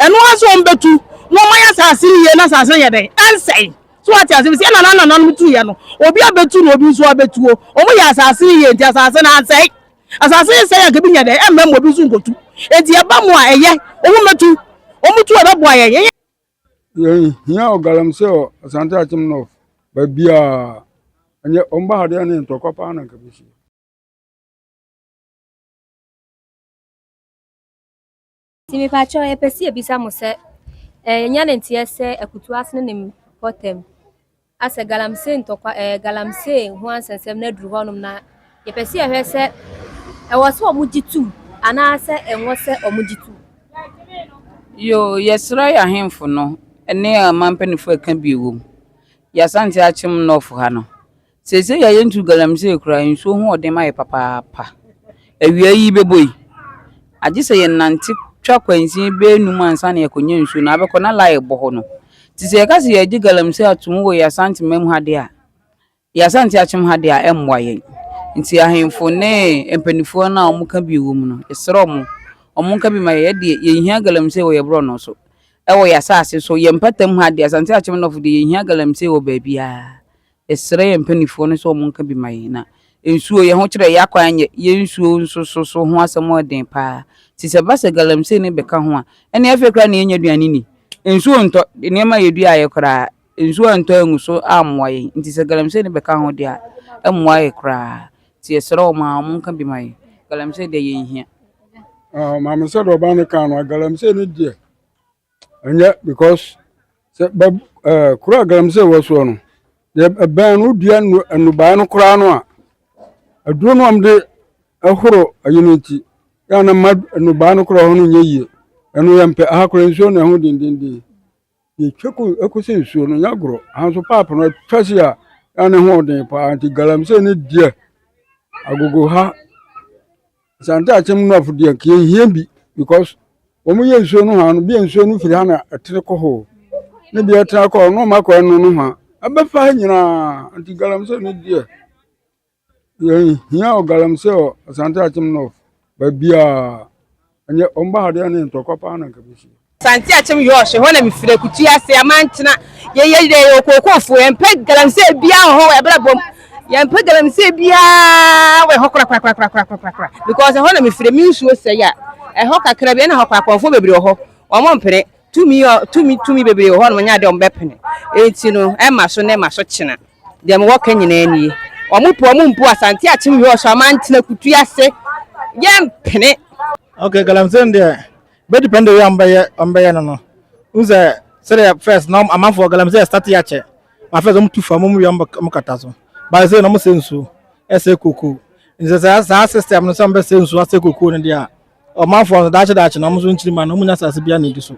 Ɛno ara nso wɔbɛtu na wɔayɛ asase no yie na asase no ayɛ dɛn? Ɛnsɛe. So woate aseɛ? Ɛfiri sɛ yɛn nananananom tuiɛ no, obi abɛtu na obi nso abɛtuo. Wɔyɛɛ asase no yie nti asase no ansɛe. Asase no sɛe a anka ebi nyɛ dɛn? Ɛmma mu, ebi nso nkɔtu. Enti ɛba mu a ɛyɛ, wɔmmɛtu. Wɔtu a ɛbɛboa yɛn. Yɛnyɛ. Yɛnhia ɔgalamsey wɔ Asante Akyem North baabiara. Ɛnyɛ wɔba ha deɛ ne ntɔkwa paa na anka bɛsi. Nti mepakyɛw yɛpɛ sɛ yɛbisa mo sɛ ɛɛ yɛnya ne nteɛ sɛ akutu ase no ne mpɔtam asɛ galamsey ntɔkwa ɛɛ galamsey ho ansɛnsɛm no aduru hɔnom na yɛpɛ sɛ yɛhwɛ sɛ ɛwɔ sɛ ɔmo gye tum anaasɛ ɛnwɔ sɛ ɔmo gye tum. Yoo yɛsera yɛ ahenfo no ne ɔman mpanyinfo ɛka bi wom yɛ asante akyem nɔf ha no Seesei a yentu galamsey koraa, nsuo ho ɔden ma yɛn papaapa. Awia yi bɛbɔ yi, agye sɛ yɛnante twa kwansin bɛyɛ num ansa na yɛakɔnya nsuo na abɛkɔ na laa rebɔ hɔ no. Nti sɛ yɛka sɛ yɛregye galamsey atom wɔ yɛn Asante man mu ha deɛ a, yɛn Asante akyem ha deɛ a, ɛmmoa yɛn. Nti ahemfo ne mpanimfoɔ no a wɔka bi wɔ mu no, yɛsrɛ wɔn, wɔnka bi ma yɛn. Yɛn deɛ, yɛnhia galamsey wɔ yɛn borɔno so, wɔ yɛn asase so, yɛn mpata mu ha deɛ, Asante akyem nɔfo deɛ, yɛnhia galamsey wɔ baabiara. Yɛsrɛ yɛn mpanimfoɔ no sɛ wɔnka bi ma yɛn. Na nsuo, yɛn ho kyerɛ, yɛn akwan nyɛ, yɛn nsuo nso so so ho asɛm yɛ den pa ara. Nti sɛ ɛba sɛ galamsey no bɛka ho a, ɛnneɛ afei koraa na yɛnnya aduane nni. Nsuo ntɔ, nneɛma a yɛduaeɛ koraa, nsuo antɔ angu so ammoa yɛn. Nti sɛ galamsey no bɛka ho deɛ a, ɛmmoa yɛn koraa. Nti yɛsrɛ wɔn a wɔnka bi ma yɛn. Galamsey deɛ, yɛnhia. Maame Sɛdɔba no kaa no a, galamsey no deɛ, ɛnyɛ because sɛ bɛ ɛɛ eh, kuro a galamsey wɔ soɔ no deɛ ɛbɛn no wodua nnubaa no koraa no a aduro no a wɔde ɛhoro ɛyi no nti yɛ na ma nnubaa no koraa hɔ no nyɛ yie ɛno yɛ mpɛ aha koraa nsuo na ɛho dendenden yɛtwa ko ɛkɔsi nsuo no nyɛ agorɔ aha nso paap no atwa si a yɛ na ɛho ɔden paa nti galamsey no deɛ agogo ha Santaakyem Nuafo deɛ nka yɛnhia bi because wɔn yɛ nsuo no hɔ no bia nsuo no firi ha na ɛtene kɔ hɔ ne bia ɛtena kɔ hɔ na wɔn akɔ ɛno no hɔ ɛbɛfa ha nyinaa nti galamsey no deɛ yɛnhia wɔ galamsey wɔ Santaakyem North baabiaa ɛnyɛ wɔn ba ha deɛ ne ntɔkwa paa na nka bɛsi Santeakyem Yɔɔhye, ɛhɔ na mefiri akutu ase a mankyena. Yɛyɛ dɛ yɛwɔ kookoofo, yɛmpɛ galamsey biara wɔ hɔ wɔ ɛberɛ bɔ mu. Yɛmpɛ galamsey biara wɔ ɛhɔ korakorakorakorakorakorakorakora because ɛhɔ na mefiri, me nsuo sɛe a, ɛhɔ kakra bi ɛna ɛhɔ koraa akɔmfoɔ bebree wɔ hɔ, wɔmpene. Tumi ɔ, tumi, tumi bebree wɔ hɔ a wɔnya a deɛ wɔbɛpene. Enti no, ɛma so na ɛma so kyena. Deɛ mewɔ ka nyinaa nie. Wɔpɛ wɔmpo a, Santeakyem Yɔɔhye a mankyena akutu ase, yɛmpene. Okay, galamsey no deɛ, Bɛ depend a ɔmo bɛyɛ ɔmo bɛyɛ no no wohu sɛ sɛdeɛ first na amanfoɔ wɔ galamsey ɛstate akyɛ ma first ɔmo tu fam ɔmo wie ɔmo bɛ ɔmo kata so but sɛ na ɔmo sɛ nsuo ɛsɛ kokoo nti sɛ saa saa system no sɛ ɔmo bɛ sɛ nsuo asɛ kokoo no deɛ a ɔmanfoɔ no daakye daakye na ɔmo nso nkyiri ma no ɔmo nya asase bi a na edi so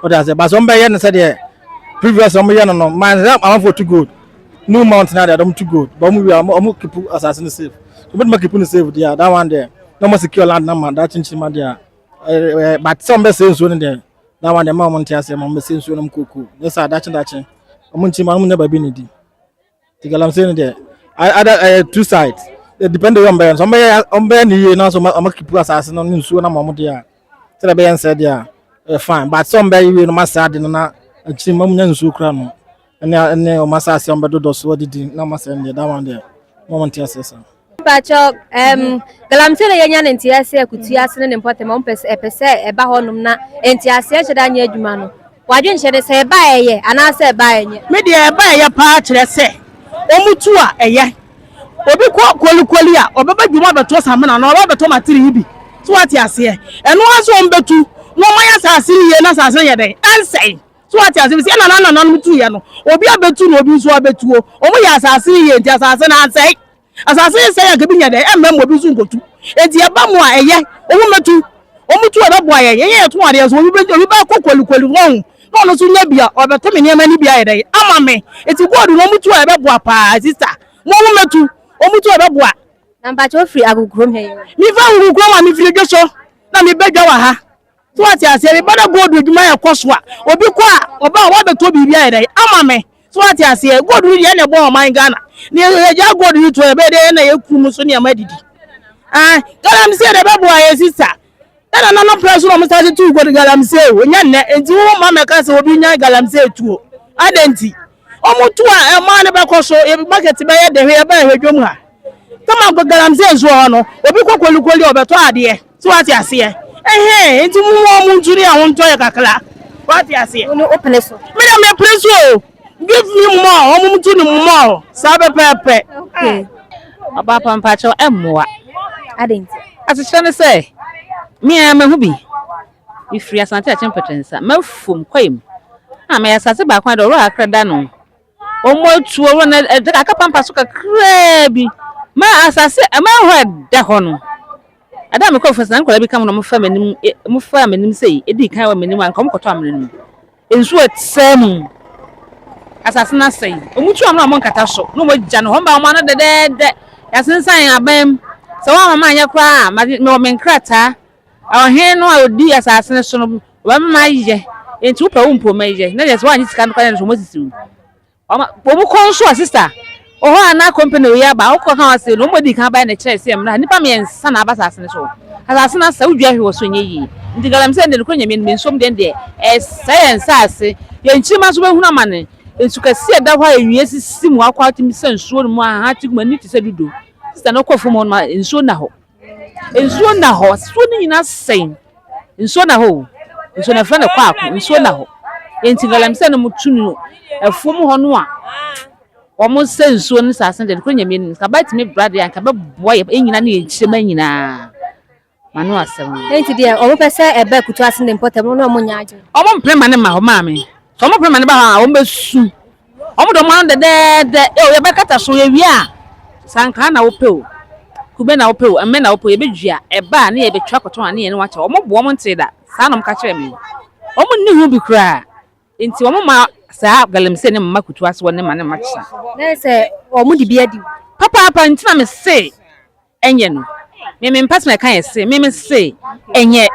ɔde aseɛ but sɛ ɔmo bɛyɛ no sɛdeɛ previous ɔmo yɛ no no man sɛ amanfoɔ tu gold new mountain adeɛ ɔmo tu gold but ɔmo wie a ɔmo ɔmo kipu asase no safe ɔmo tuma kipu no safe deɛ a that one deɛ na ɔmo secure land na ma daakye nkyiri ma deɛ a. ɛɛ but sɛ wɔn bɛsɛ nsuo no deɛ na wɔn deɛ ma wɔn nte aseɛ ma wɔn bɛsɛ nsuo no mu kookoo ne sɛ adakye dakye wɔn nti ma wɔn nyɛ baabi na di ti galamsey no deɛ ada ɛyɛ two side it depend on wɔn bɛyɛ nso wɔn bɛyɛ wɔn bɛyɛ ne yie na nso wɔn akipu asase no ne nsuo no ma wɔn deɛ a sɛ deɛ bɛyɛ nsɛ deɛ a ɛyɛ fine but sɛ wɔn bɛyɛ yie no ma sɛ ade no na akyiri ma wɔn nyɛ nsuo kura no. ɛne ɛne wɔn asase a wɔbɛdodɔ so adidi na wɔn asɛm deɛ that one deɛ wɔn wɔn nte aseɛ saa. Mpakyɛ ɛm galamsey na yɛnya ne nte aseɛ akutu ase ne ne mpɔtam wɔn pɛ sɛ ɛpɛ sɛ ɛba hɔnom na nte aseɛ nhyɛ da nyɛ adwuma no wadwe nhyɛ ne sɛ ɛba ɛyɛ anaasɛ ɛba ɛnyɛ. Me deɛ ɛba ɛyɛ paa kyerɛ sɛ wɔn tu a ɛyɛ obi kɔ kolikoli a ɔbɛbɛ dwuma bɛtɔ samina na ɔbɛ bɛtɔ matiri yi bi so wate aseɛ ɛno aso wɔn bɛtu na wɔn ayɛ asase yie na asase yɛ dɛ ɛnsɛn. So wate ase? Sɛ na nanananom tuiɛ no, obi abɛtu na obi nso abɛtuo. Wɔn yɛ asase no yie nti asase no ansɛe. Asase no sɛe a nka bi nya dɛn? Ɛmma mu obi nso nkɔtu. Enti ɛba mu a ɛyɛ, wɔn mmɛtu. Wɔn tu a ɛbɛboa yɛn. Yɛnyɛ yɛto adeɛ so. Obi bɛ obi bɛkɔ kolikoli hɔ ho na ɔno nso nya bi a ɔbɛtɔ me nneɛma no bi ayɛ dɛn? Ama me. Enti gold no wɔn tu a ɛbɛboa paa sista. Mo wɔn mmɛtu. Wɔn tu a ɛbɛboa. Na mpakyɛ ofiri agogokurom he. Mefa agogokurom a mefiri dwoso na mebɛ dwa wɔ ha. So wate aseɛ meba na gold adwuma yɛ kɔ so a obi kɔ a ɔba a wabɛtɔ biribi ayɛ dɛn ama me so wate aseɛ gold no deɛ na ɛbɔ ɔman Ghana ne yɛgya gold no to ɛbɛyɛ dɛ na yɛku mu so nneɛma didi ah galamsey na ɛbɛboa yɛ sista ɛna nana pɛ so na ɔmo sase tu gold galamsey o nyɛ nnɛ nti wo ma mɛka sɛ obi nya galamsey tuo adɛ nti ɔmo tu a ɛmaa no bɛkɔ so market bɛyɛ dɛ hwɛ yɛbɛyɛ hwɛ dwom ha kama galamsey nso hɔ no obi kɔ kolikoli ɔbɛtɔ adeɛ So wate aseɛ? Ɛhɛn, enti mo mo a mo ntu ne a wɔntɔ yɛ kakra. Wate aseɛ? Wo ne wo pene so. Me deɛ me pene so o. Give me more, wɔn mo tu ne mo more. Saa pɛpɛɛpɛ. Okay. Ɔbaapa mpakyɛw ɛmmoa. Adɛn nti? Asekyerɛ ne sɛ, me ara mahu bi. Mefiri Asante Akyem Pɛtɛnsa, Mafom kwaeɛ mu. Na meyɛ asase baako ara de, Ɔwora Akra da no. Wɔatuo wɔn de kakra pampa so kakraa bi ma asase ma hɔ ɛda hɔ no ɛda a mekɔ fasa nkwadaa bi ka ho na wɔfa m'anim wɔfa m'anim sɛ ɛdi kan wɔ m'anim anka wɔkɔtɔ amena no mu nsuo ɛsɛe mu asase no asɛe wɔtu amena wɔn nkata so na wɔagya no hɔ mma wɔn ano dɛdɛɛdɛ yɛasensan aban mu sɛ wɔn ama anyɛ koraa a mewɔ me nkrataa Ɔhene no a odi asase no so no bɛma ayɛ, enti wopɛ wo mpo mɛyɛ, na deɛ sɛ woanyɛ sika no koraa nso wɔasisi wo. Wɔn wɔn kɔ nso a sista ɔhɔ a na company wei aba a wokɔ ka wɔn ase no wɔn adi kan abaeɛ na ɛkyerɛ sɛ mmra nnipa mmiɛnsa na aba asase no so. Asase no asɛ wodua hwe wɔ so ɛnyɛ yie. Nti galamsey deɛ nokorɛ Nyame anim nsom deɛ no deɛ ɛresɛe yɛn nsaase, yɛn nkyirimma nso bɛhunu amane. Nsu kɛseɛ ɛda hɔ a ɛnwie sisi mu akɔ a wotumi sa nsuo no mu a ahahan te gu mu ani te sɛ dudo. Sista no kɔ afuom hɔ nom a nsuo nna hɔ. Nsuo nna hɔ, nsuo no nyina sɛe, nsuo nna hɔ o, nsuo no yɛfrɛ no kwaako, nsuo nna hɔ, nti galamsey no mo tu no afuo mu hɔ no a wɔn sɛ nsuo no saa sɛn deɛ nokore Nyame anim, nka bɛtumi bra deɛ anka bɛboa yɛ nyina ne yɛ nkyirema nyinaa, mano asɛm no. Nti deɛ wɔn pɛ sɛ ɛba akutuase ne mpɔtam no na wɔn nyɛ adwene. Wɔn mpere ma no ma hɔ maame, sɛ wɔn pere ma no ba hɔ a wɔn bɛsu Wɔn dɔ ma no dɛdɛɛdɛ. Eo yɛbɛkata so yɛwie a, sankra na wopɛ o, kube na wopɛ o, mmɛ na wopɛ o, yɛbɛdua. Ɛba a, ne yɛbɛtwa kɔtɔn a ne yɛne wo akyɛ. Wɔn bo, wɔn ntee da. Saa na wɔka kyerɛɛ me. Wɔn nni ho bi koraa. Enti wɔn ma saa galamsey no mma kutu ase, wɔn ne ma no mma kyesa. Na ayɛ sɛ wɔn de bi adi wo. Papaapa, enti na mese Ɛnyɛ no. Me me mpa so na ɛka yɛ se, me me se, ɛnyɛ.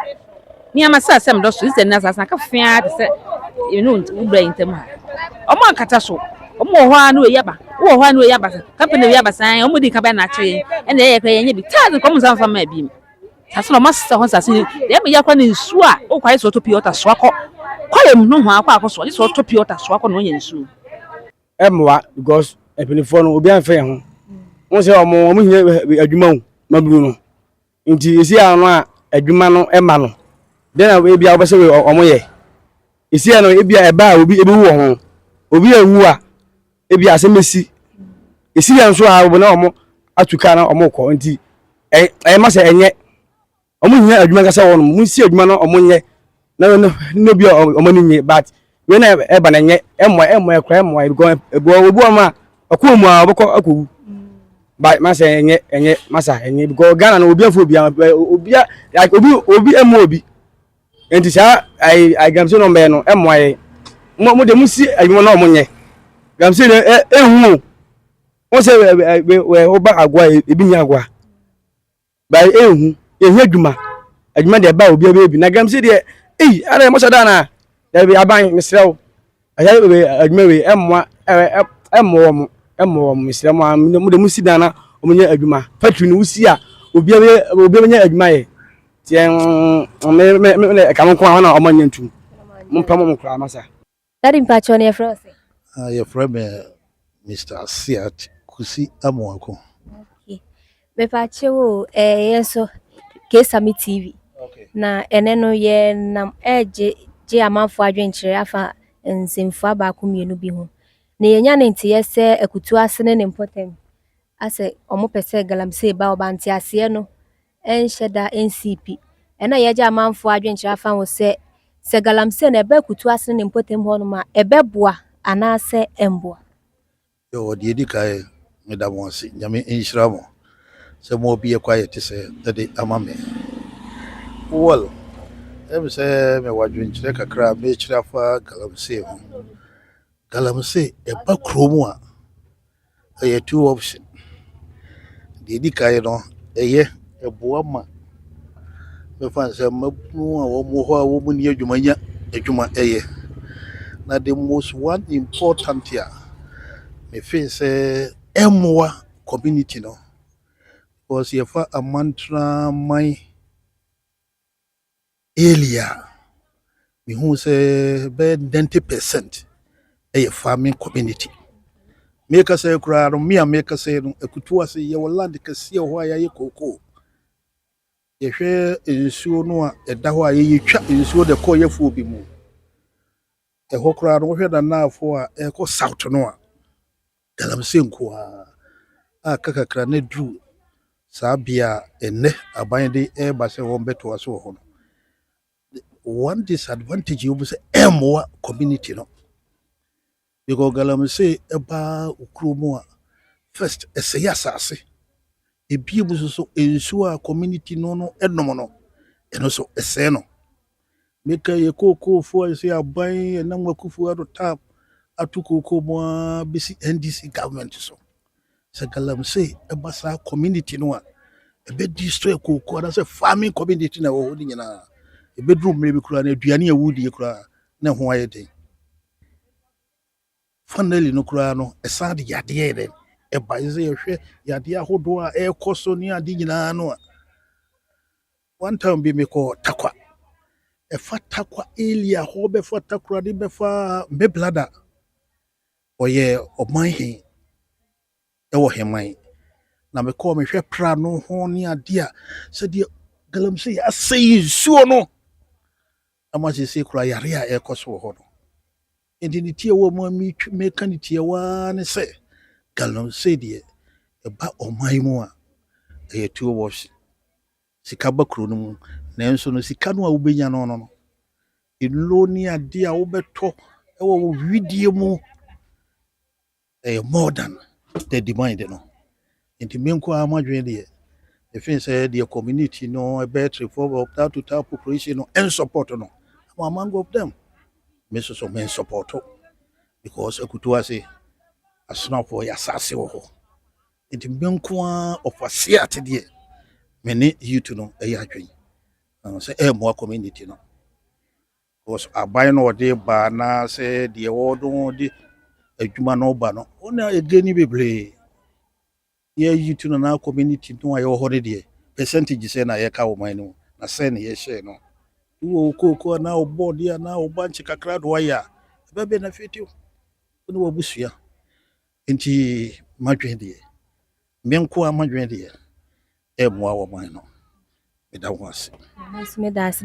Nneɛma sɛ asɛm dɔ so, nsɛ nna asase no aka fee ara te sɛ me ne wo bra yi ntam ha. Wɔn ankata so, wɔn wɔ hɔ ara ne wei aba, wo wɔ hɔ ara ne wei aba, company wei aba saa, wɔn di nka bɛyɛ na akyerɛ yɛn, ɛna ɛyɛ kora yɛnyɛ bi, taa nka wɔn nsa mfa mmaa biem. Saa so na wɔn asesa hɔ nsase ni, deɛ ɛmɛ yɛ akora ne nsuo a, wo kɔ ayɛ sɛ ɔtɔ pure water soa kɔ kwaeɛ mu nohoa kɔ akɔ soa, gye sɛ ɔtɔ pure water soa kɔ na ɔnya nsuo. ɛmmoa because mpanyinfoɔ no obi anfɛ yɛn ho wɔn sɛ wɔn wɔn hia eh, adwuma o maburu no nti esi ano a adwuma no ɛma no dɛn na ebi a wɔbɛsɛ wɔn yɛ esi ano ebi a ɛba a obi ebi wu wɔ ho obi a ewu a ebi a asɛm esi esi yɛn so a wɔn na wɔn atu kaa na wɔn kɔ nti ɛyɛ ma sɛ ɛnyɛ. ɔmo hia adwuma ankasa wɔ nom monsi adwuma no ɔmo nyɛ na no ne obi a ɔmo ani nye but wei na ɛba na nyɛ ɛmmoa ɛmmoa ɛkora ɛmmoa ebikɔ ɛboa obi wɔn a ɔkɔ mu a ɔbɛkɔ akɔwu but masa ɛnyɛ ɛnyɛ masa ɛnyɛ bikɔ Ghana no obi afɔ obi a obi a like obi obi ɛmmoa obi nti saa ayi ayi galamsey no mbɛyɛ no ɛmmoa yɛ mo mo de mo si adwuma na ɔmo nyɛ galamsey no ɛ ɛhu o wɔn sɛ ɛ ɛ ɛ ɔba agoa ebi nyɛ agoa. Ba yɛ ehu yɛ hia dwuma adwuma deɛ ba obiara bɛyɛ bi na galamsey deɛ ei ana yɛ mɔsɛ da anaa dabi aban mesrɛ wo ɛyɛ adwuma wei ɛmmoa ɛmmɔ wɔn ɛmmɔ wɔn mesrɛ mo a mo de mo si dan na wɔn nyɛ adwuma factory no wosi a obiara bɛyɛ obiara bɛnyɛ adwuma yɛ tiɛ me me me ɛka mo nko a wɔn a wɔn nyɛ ntum mo mpɛ mo mo koraa masa. Daddy mpakyɛw na yɛfrɛ wo sɛn? Ah yɛfrɛ me Mister Asiach Kusi Amoako. Okay. Mepakyɛw o, eh, yɛn so Kesame TV. Okay. Na ɛnɛ no yɛnam ɛregye gye amanfo adwenkyerɛ afa nsɛmfua baako mmienu bi ho. Na yɛnya ne nteyɛ sɛ akutu ase ne ne mpɔtam asɛ wɔn pɛ sɛ galamsey ba ɔba nteaseɛ no ɛnhyɛ da nsii pi. Ɛno a yɛagye amanfoɔ adwenkyerɛ afa ho sɛ sɛ galamsey no ɛba akutuo ase ne ne mpɔtam hɔnom a, ɛbɛboa anaasɛ ɛmmoa. Yɛwɔ deɛ ɛdi kan, meda mo ase, Nyame nhyira mo sɛ mo abue ɛkwan a ɛte sɛɛ de ama me. Well, ɛyɛ me sɛ mewɔ adwenkyerɛ kakra a merekyerɛ afa galamsey ho. Galamsey ɛba kurom a, Ɛyɛ two option. Deɛ ɛdi kan no, ɛyɛ, ɛboa ma mɛfa no sɛ mmabunu a wɔwɔ hɔ a wɔnni adwuma nya adwuma yɛ. Na the most one important a mefe sɛ ɛmmoa community no because yɛfa amantraman Early a, mehuu sɛ bɛyɛ ninety percent yɛ farming community. Me kasa yi koraa no, me a me kasa yi no, akutu ase yɛwɔ land kɛseɛ wɔ hɔ a yɛayɛ cocoa. Yɛhwɛ nsuo no a ɛda hɔ a yɛtwa nsuo de kɔ yɛfoɔ bi mu. Ɛhɔ koraa no, wohwɛ Nanafoɔ a ɛrekɔ south no a, galamsey nko ara. A kakakra na ɛduru saa bea a ɛnnɛ aban de reba sɛ wɔbɛtoa so wɔ hɔ no. One disadvantage yɛ wɔn sɛ ɛmmoa community no. Because galamsey ɛba wo kurom a, first ɛsɛe asase. Ebia mu nso so nsuo a community no no nom no, ɛno nso ɛsɛe no. Meka yɛ kookoofoɔ a ɛsɛ aban ɛnam wakufo ado tap ato kookoo mu ara bɛsi NDC government so. Sɛ galamsey ɛba saa community no a, ɛbɛ destroy kookoo anaasɛ farming community na ɛwɔ hɔ no nyinaa. Ɛbɛduru mmerɛ bi koraa na aduane a wodie koraa na ɛho ayɛ den. Finally no koraa no, ɛsan de yadeɛ yɛ dɛn? Ɛba. Ɛsɛ sɛ yɛhwɛ yadeɛ ahodoɔ a ɛrekɔ so ne ade nyinaa no a. One time bi mekɔ Takwa. Ɛfa Takwa area hɔ bɛfa Takoradi bɛfa Mbeblada. Ɔyɛ ɔman he ɛwɔ Heman. Na mekɔɔ mehwɛ pra no ho ne adeɛ a sɛdeɛ galamsey asɛe nsuo no. Ama seesei koraa yare a ɛrekɔ so wɔ hɔ no, enti ne tiawa a meka ne tiawa ara ne sɛ, galamsey deɛ, ɛba ɔman yi mu a, ɛyɛ tuo wɔhye. Sika ba kuro no mu, nanso no sika no a wobɛnya no no, nnuro ne adeɛ a wobɛtɔ wɔ wo wedeɛ mu, ɛyɛ more than the demand no nti me nko ara m'adwene deɛ ɛfiri sɛ deɛ community no battery for that to tap population no and support no I'm among of them me nso so me support because akutu ase asonafoɔ yɛ asase wɔ hɔ nti me nko ara ɔfa se ate deɛ me ne youth no ɛyɛ adwene sɛ ɛmmoa community no Because aban na ɔde ba anaasɛ deɛ wɔde ho de adwuma no ba no wɔn na ɛgye ni bebree yɛ yi tu no na community no a yɛwɔ hɔ no deɛ percentage sɛ na yɛka wɔ man no mu na sɛ na yɛhyɛ no wɔ okooko anaa ɔbɔɔde anaa ɔba nkye kakra do ayɛ a ɛbɛ benefit wo ne wabusua nti madwene deɛ me nko a madwene deɛ ɛmmoa wɔ man no meda ho ase. Yes, me da ase.